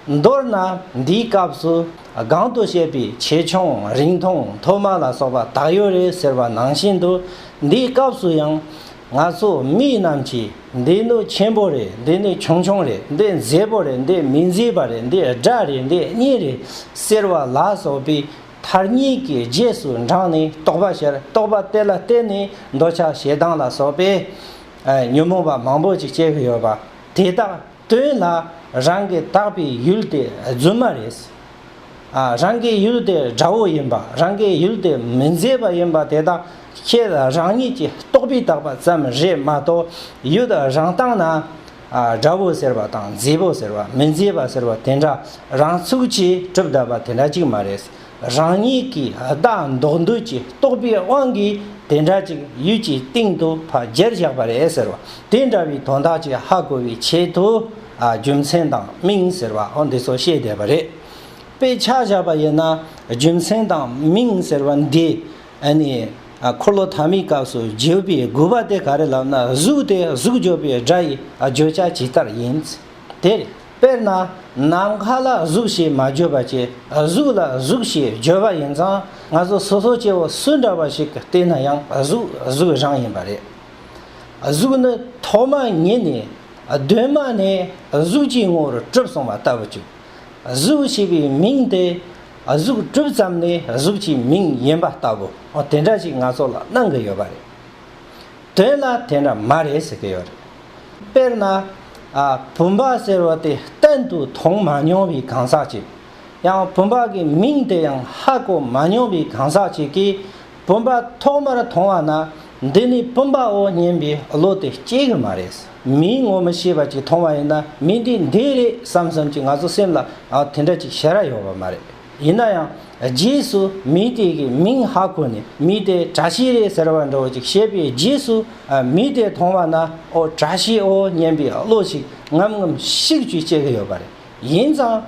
མདོར་ན་འདིའི་སྐབས་སུ་སྒང་དུ་བཤད་པའི་ཆེ་ཆུང་རིང་ཐུང་མཐོ་དམའ་ལ་སོགས་པ་དག་ཡོད་རེད་ཟེར་བ་ནང་བཞིན་དུ་འདིའི་སྐབས་སུ་ཡང། ང་ཚོ་མི་རྣམས་ཀྱིས་འདི་ནི་ཆེན་པོ་རེད་འདི་ནི་ཆུང་ཆུང་རེད་འདི་མཛེས་པོ་རེད་འདི་མི་མཛེས་པ་རེད་འདི་སྒྲ་རེད་འདི་སྙན་རེད་ཟེར་བ་ལ་སོགས་པའི་མཐར་གཉིས་ཀའི་རྗེས་སུ་འབྲངས་ནས་རྟོག་པ་ཤར་རྟོག་པ་དེ་ལ་བརྟེན་ནས་འདོད་ཆགས་ཞེ་སྡང་ལ་སོགས་པའི་ཉོན་མོངས་པ་མང་པོ་ཅིག་སྐྱེ་གི་ཡོད་པ་དེ་དག་དོན་ལ་རང་གི་བཏགས་པའི་ཡུལ་དེ་རྫུན་མ་རེད། རང་གི་ཡུལ་དེ་དགྲ་བོ་ཡིན་པ་རང་གི་ཡུལ་དེ་མི་མཛེས་པ་ཡིན་པ་དེ་དག་ཁྱེད་རང་ཉིད་ཀྱི་རྟོག་པས་བཏགས་པ་ཙམ་རེད་མ་གཏོགས་ཡུལ་རང་བཏགས་ན། དགྲ་བོ་ཟེར་བ་དང་མཛེས་པོ་ཟེར་བ་མི་མཛེས་པ་ཟེར་བ་དེ་འདྲ་རང་ཚུགས་ཀྱིས་གྲུབ་བསྡད་པ་དེ་འདྲ་གཅིག་མ་རེད། རང་ཉིད་ཀྱི་བདག་འདོགས་འདོད་ཀྱི་རྟོག་པའི་དབང་གིས་དེ་འདྲ་ཅིག་ཡུལ་གྱི་སྟེང་དུ་ཕ་རྒྱལ་བཞག་པ་རེད་ཟེར་བ་དེ་འདྲ་བའི་དོན་དག་ཅིག་ཧ་གོ་བའི་ཆེད་དུ་རྒྱུ་མཚན་དང་མིང་ཟེར་བའང་འདི་ཚོ་བཤད་བསྡད་པ་རེད། དཔེ་ཆ་བཞག་པ་ཡིན་ན་རྒྱུ་མཚན་དང་མིང་ཟེར་བ་འདི་ནི་འཁོར་ལོ་ཐ་མའི་སྐབས་སུ་བརྗོད་པའི་དགོས་པ་དེ་ག་རེ་ལབ་ན་གཟུགས་དེ་གཟུགས་བརྗོད་པའི་སྒྲ་ཡི་བརྗོད་བྱ་ཇི་ལྟར་ཡིན། དེར་དཔེར་ན་ནམ་མཁའ་ལ་གཟུགས་ཞེས་མ་བརྗོད་པ་སྐྱེ་གཟུགས་ལ་གཟུགས་ཞེས་བརྗོད་པ་ཡིན་ཙང་ང་ཚོ་སོ་སོ་སྐྱེ་བོ་སུ་འདྲ་བ་ཞིག་བལྟས་ན་ཡང་གཟུགས་གཟུགས་རང་ཡིན་པ་རེད། གཟུགས་ནི་ཐོག་མ་ཉིད་ནས་གདོད་མ་ནས་གཟུགས་ཀྱི་ངོ་བོར་གྲུབ་སོང་བ་ལྟ་བུ་བཅུག་གཟུགས་ཞེས་པའི་མིང་དེ་གཟུགས་གྲུབ་ཙམ་ནས་གཟུགས་ཀྱི་མིང་ཡིན་པ་ལྟ་བུ་དེ་འདྲ་ཞིག་ང་ཚོ་ལ་གནང་གི་ཡོད་པ་རེད། དེ་ལ་དེ་འདྲ་མ་རེད་ཟེར་གྱི་ཡོད་རེད། དཔེར་ན། བུམ་པ་ཟེར་བ་དེ་གཏན་དུ་མཐོང་མ་མྱོང་བའི་གང་ཟག་ཅིག། ཡང་བུམ་པ་གི་མིང་དེ་ཡང་ཧ་གོ་མ་མྱོང་བའི་གང་ཟག་ཅིག་གིས་བུམ་པ་ཐོག་མར་མཐོང་བ་ན་འདི་ནི་བུམ་པའོ་སྙམ་པའི་བློ་དེ་སྐྱེ་གི་མ་རེད། མིའི་ངོ་མི་ཤེས་པ་ཅིག་མཐོང་བ་ཡིན་ན་མི་འདི་འདི་རེད་བསམ་བསམ་གྱིས་ང་ཚོ་སེམས་ལ་དེ་འདྲ་ཅིག་བྱེད་ར་ཡོང་བ་མ་རེད། ཡིན་ན་ཡང་རྗེས་སུ་མི་དེ་གི་མིང་ཧ་གོ་ནས་མི་དེ་གྲ་ཤི་རེད་ཟེར་བ་འདྲ་བོ་ཅིག་བཤད་པའི་རྗེས་སུ་མི་དེ་མཐོང་བ་ན་ཨོ་གྲ་ཤི་ཨོ་སྙན་པའི་བློ་ཞིག་ངམ་ངམ་ཤིག་ཅིག་སྐྱེ་གི་ཡོད་པ་རེད། ཡིན་ཙང།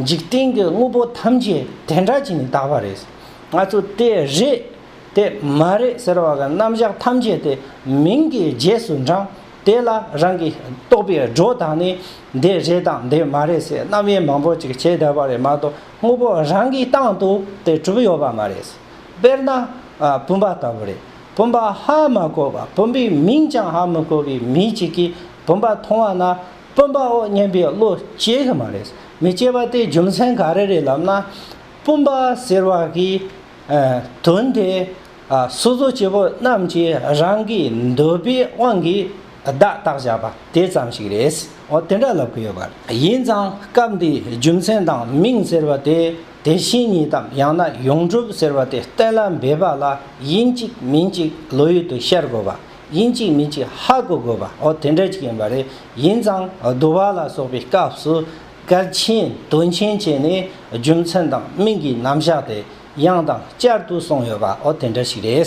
འཇིག་རྟེན་གི་དངོས་པོ་ཐམས་ཅད་དེ་འདྲ་གྱིས་ནི་དག་པ་རེད། ང་ཚོ་དེ་རེད། དེ་མ་རེད་ཟེར་བ་གི་རྣམ་གཞག་ཐམས་ཅད་དེ་མིང་གི་རྗེས་སུ་འབྲངས། དེ་ལ་རང་གི་རྟོགས་པའི་སྒྲོ་དང་ནི། འདི་རེད་དང་འདི་མ་རེད་ཟེར་རྣམ་དབྱེ་མང་པོ་ཅིག་བྱེད་བདེ་བ་རེད་མ་གཏོགས་དངོས་པོ་རང་གིས་བཏང་དུ་དེ་གྲུབ་ཡོད་པ་མ་རེད། དཔེར་ན། བུམ་པ་ལྟ་བུ་རེད། བུམ་པ་ཧ་མ་གོ་བ་བུམ་པའི་མིང་ཀྱང་ཧ་མི་གོ་བའི་མི་ཅིག་གིས་བུམ་པ་མཐོང་བ་ན་བུམ་པའོ་སྙམ་པའི་བློ་སྐྱེ་གི་མ་རེད། མི་སྐྱེ་བ་དེའི་རྒྱུ་མཚན་ག་རེ་རེད་ལབ་ན། བུམ་པ་ཟེར་བ་གིས། དོན་དེས་སོ་སོ་སྐྱེ་བོ་རྣམས་ཀྱི་རང་གི་འདོད་པའི་དབང་གིས་བརྡ་རྟགས་བཞག་པ་དེ་ཙམ་ཞིག་རེད། འོ་དེ་འདྲ་ལབ་གི་ཡོད་པ་རེད། ཡིན་ཙང་སྐབས་འདིའི་རྒྱུ་མཚན་དང་མིང་ཟེར་བ་དེ་དེ་བཞིན་ཉིད་དམ་ཡང་ན་ཡོངས་གྲུབ་ཟེར་བ་དེ་གཏན་ལ་འབེབས་པ་ལ་ཡིན་གཅིག་མིན་གཅིག་བློ་ཡུལ་དུ་ཤར་དགོས་པ། ཡིན་གཅིག་མིན་གཅིག་ཧ་གོ་དགོས་པ་འོ་དེ་འདྲ་ཅིག་ཡིན་པ་རེད། ཡིན་ཙང་བསྡུ་བ་ལ་སོགས་པའི་སྐབས་སུ། སྐལ་ཆེན་དོན་ཆེན་བཅས་ནི་རྒྱུ་མཚན་དང་མིང་གི་རྣམ་གཞག་དེ་ཡང་དང་བསྐྱར་དུ་གསུངས་ཡོད་པའོ་དེ་འདྲ་ཞིག་རེད།